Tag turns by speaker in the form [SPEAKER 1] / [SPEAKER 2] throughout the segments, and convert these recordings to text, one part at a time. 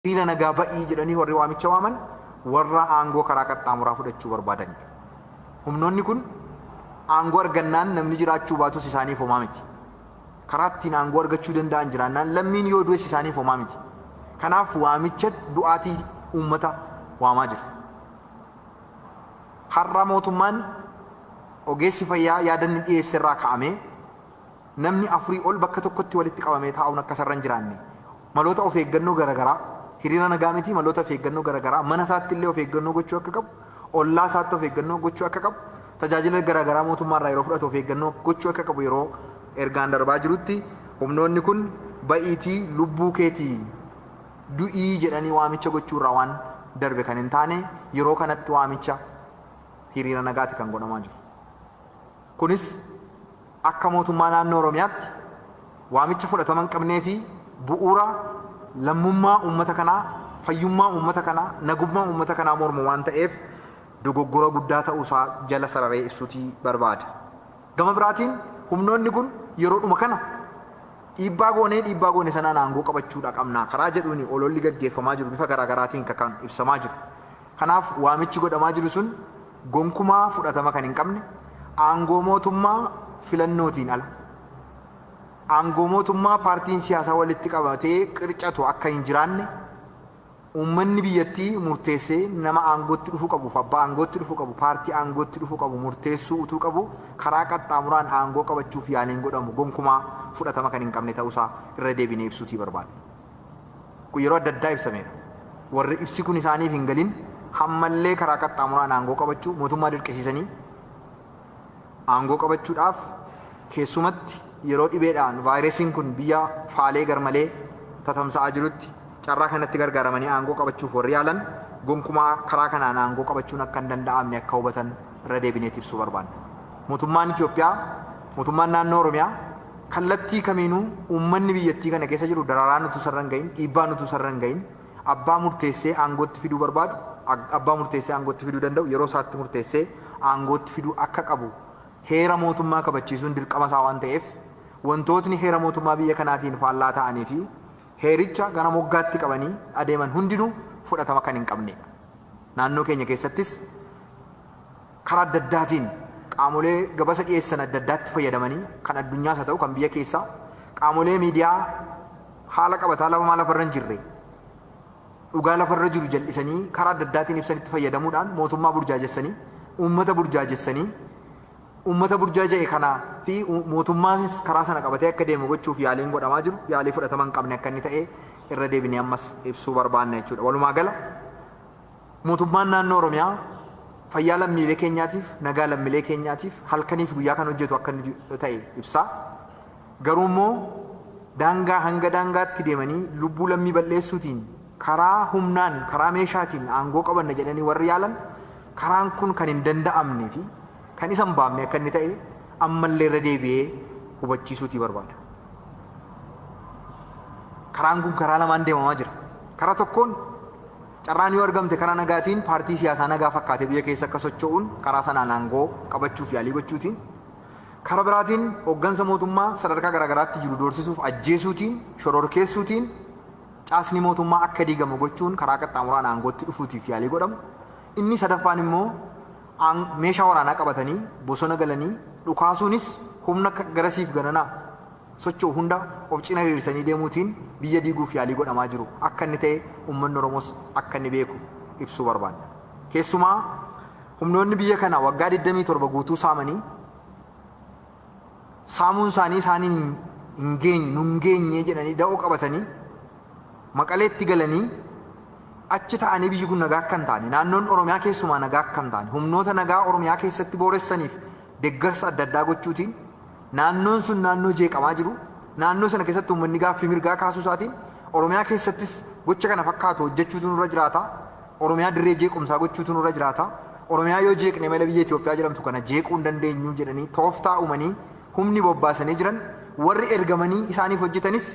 [SPEAKER 1] Hiriira nagaa ba'ii jedhanii warri waamicha waaman warra aangoo karaa qaxxaamuraa fudhachuu barbaadani. Humnoonni kun aangoo argannaan namni jiraachuu baatus isaaniif homaa miti. Karaa ittiin aangoo argachuu danda'an jiraannaan lammiin yoo du'es isaaniif homaa miti. Kanaaf waamicha du'aatii uummata waamaa jiru. Har'a mootummaan ogeessi fayyaa yaadanni dhiyeesserraa ka'amee, Namni afurii ol bakka tokkotti walitti qabamee taa'uun akka isarra hin jiraanne maloota of eeggannoo garagaraa hiriira nagaa miti maloota of eeggannoo garagaraa mana isaatti illee of eeggannoo gochuu akka qabu, ollaa isaatti of eeggannoo gochuu akka qabu, tajaajila garagaraa mootummaa irraa yeroo fudhatu of eeggannoo gochuu akka qabu yeroo ergaan darbaa jirutti humnoonni kun ba'iitii lubbuu keetii du'ii jedhanii waamicha gochuu irraa waan darbe kan hin taane yeroo kanatti waamicha hiriira nagaati kan godhamaa jiru. Kunis. Akka Mootummaa Naannoo Oromiyaatti waamicha fudhatama hin qabnee fi bu'uura lammummaa uummata kanaa, fayyummaa uummata kanaa, nagummaa uummata kanaa mormu waan ta'eef dogoggora guddaa ta'uu isaa jala sararee ibsuutii barbaada. Gama biraatiin humnoonni kun yeroodhuma kana dhiibbaa goonee dhiibbaa goone sanaan aangoo qabachuudha qabna karaa jedhuuni ololli gaggeeffamaa jiru bifa garaagaraatiin ka kan ibsamaa jiru. Kanaaf waamichi godhamaa jiru sun gonkumaa fudhatama kan hin qabne, aangoo mootummaa filannootiin ala, aangoo mootummaa paartiin siyaasaa walitti qabatee qircatu akka hin jiraanne, uummanni biyyattii murteessee nama aangootti dhufuu qabuu fi abbaa aangootti dhufuu qabu, paartii aangootti dhufuu qabu murteessuu utuu qabuu karaa qaxxaamuraan aangoo qabachuuf yaaliin godhamu gonkumaa fudhatama kan hin qabne ta'uu isaa irra deebinee ibsuutii barbaadna. kun yeroo adda addaa ibsameera. Warri ibsi kun isaaniif hin galin hammallee karaa qaxxaamuraan aangoo qabachuu mootummaa dirqisiisanii aangoo qabachuudhaaf keessumatti yeroo dhibeedhaan vaayiresiin kun biyya faalee garmalee tatamsa'aa jirutti carraa kanatti gargaaramanii aangoo qabachuuf warri yaalan gonkumaa karaa kanaan aangoo qabachuun akka hin danda'amne akka hubatan irra deebineeti ibsuu barbaanna. Mootummaan Itoophiyaa, Mootummaan Naannoo Oromiyaa, Kallattii kamiinuu uummanni biyyattii kana keessa jiru dararaan utuu isarra hin gahin, dhiibbaan utuu isarra hin gahin abbaa murteessee aangootti fiduu barbaadu abbaa murteessee aangootti fiduu danda'u yeroo isaatti murteessee aangootti fiduu akka qabu heera mootummaa kabachiisuun dirqama isaa waan ta'eef wantootni heera mootummaa biyya kanaatiin faallaa ta'anii fi heericha gara moggaatti qabanii adeeman hundinuu fudhatama kan hin qabneedha. Naannoo keenya keessattis Karaa adda addaatiin qaamolee gabasa dhiyeessan adda addaatti fayyadamanii kan addunyaas haa ta'u kan biyya keessaa qaamolee miidiyaa haala qabataa labamaa lafarra hin jirre dhugaa lafarra jiru jal'isanii karaa adda addaatiin ibsanitti fayyadamuudhaan mootummaa burjaajessanii uummata burjaajessanii uummata burjaaja'e kana fi mootummaanis karaa sana qabatee akka deemu gochuuf yaaliin godhamaa jiru yaalii fudhatama hin qabne akka inni ta'e irra deebinee ammas ibsuu barbaanna jechuudha. Walumaa gala Mootummaan Naannoo Oromiyaa fayyaa lammiilee keenyaatiif, nagaa lammilee keenyaatiif halkanii fi guyyaa kan hojjetu akka inni ta'e ibsaa. Garuu immoo daangaa hanga daangaatti deemanii lubbuu lammii bal'eessuutiin karaa humnaan, karaa meeshaatiin aangoo qabanna jedhanii warri yaalan karaan kun kan hin danda'amne fi kan isa hin baafne akka inni ta'e ammallee irra deebi'ee hubachiisuutii barbaada. Karaan kun karaa lamaan deemamaa jira. Karaa tokkoon Carraan yoo argamte karaa nagaatiin paartii siyaasaa nagaa fakkaatee biyya keessa akka socho'uun karaa sanaan aangoo qabachuuf yaalii gochuutiin, kara biraatiin hoggansa mootummaa sadarkaa garaagaraatti jiru doorsisuuf ajjeesuutiin, shororkeessuutiin caasni mootummaa akka diigamu gochuun karaa qaxxaamuraan aangootti dhufuutiif yaalii godhamu, inni sadaffaan immoo aang meeshaa waraanaa qabatanii bosona galanii dhukaasuunis humna garasiif garanaa socho'u hunda of cina hiriirsanii deemuutiin biyya diiguuf yaalii godhamaa jiru akka inni ta'e uummanni Oromoos akka inni beeku ibsuu barbaanna. Keessumaa humnoonni biyya kana waggaa 27 guutuu saamanii saamuun isaanii isaaniin hin geenye, nu hin geenye jedhanii da'oo qabatanii Maqaleetti galanii achi ta'anii biyyi kun nagaa akka hin taane, naannoon Oromiyaa keessumaa nagaa akka hin taane, humnoota nagaa Oromiyaa keessatti booressaniif deeggarsa adda addaa gochuutiin Naannoon sun naannoo jeeqamaa jiru, naannoo sana keessatti uummanni gaaffii mirgaa kaasuu isaatiin Oromiyaa keessattis gocha kana fakkaatu hojjechuutu nurra jiraata, Oromiyaa dirree jeequmsaa gochuutu nurra jiraata, Oromiyaa yoo jeeqne malee biyya Itoophiyaa jedhamtu kana jeequu hin dandeenyu jedhanii tooftaa uumanii humni bobbaasanii jiran warri ergamanii isaaniif hojjetanis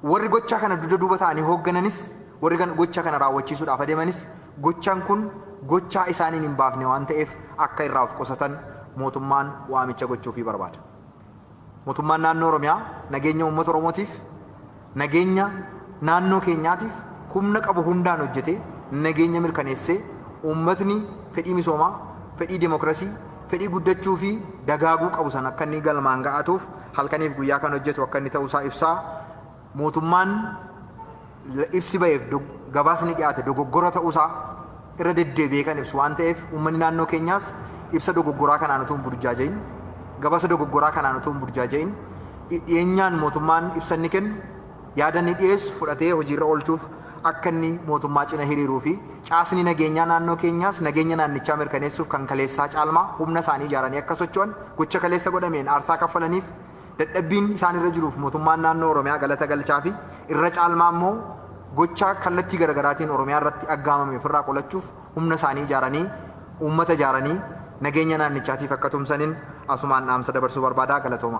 [SPEAKER 1] Warri gochaa kana dugda duuba ta'anii hooggananis, warri kan gocha kana raawwachiisuudhaaf adeemanis gochaan kun gochaa isaaniin hin baafne waan ta'eef akka irraa of qusatan mootummaan waamicha gochuufii barbaada. Mootummaan Naannoo Oromiyaa nageenya uummata Oromootiif, nageenya naannoo keenyaatiif humna qabu hundaan hojjetee nageenya mirkaneessee uummatni fedhii misoomaa, fedhii demokrasii, fedhii guddachuu fi dagaaguu qabu sana akka inni galmaan ga'atuuf halkaniif guyyaa kan hojjetu akka inni ta'uu isaa ibsaa. Mootummaan ibsi ba'eef gabaasni dhiyaate dogoggora ta'uu isaa irra deddeebi'ee kan ibsu waan ta'eef uummanni naannoo keenyaas ibsa dogoggoraa kanaan utuu hin burjaaja'in gabaasa dogoggoraa kanaan utuu hin burjaaja'in dhiyeenyaan mootummaan ibsa inni kennu yaada inni dhiyeessu fudhatee hojiirra oolchuuf akka inni mootummaa cina hiriiruu fi caasni nageenyaa naannoo keenyaas nageenya naannichaa mirkaneessuuf kan kaleessaa caalmaa humna isaanii ijaaranii akka socho'an gocha kaleessa godhameen aarsaa kaffalaniif dadhabbiin isaan irra jiruuf mootummaan naannoo Oromiyaa galata galchaa fi irra caalmaa immoo gocha kallattii garagaraatiin Oromiyaa irratti aggaamame ofirraa qolachuuf humna isaanii ijaaranii uummata ijaaranii nageenya naannichaatiif akka tumsanin asumaan dhaamsa dabarsuu barbaada. Galatooma.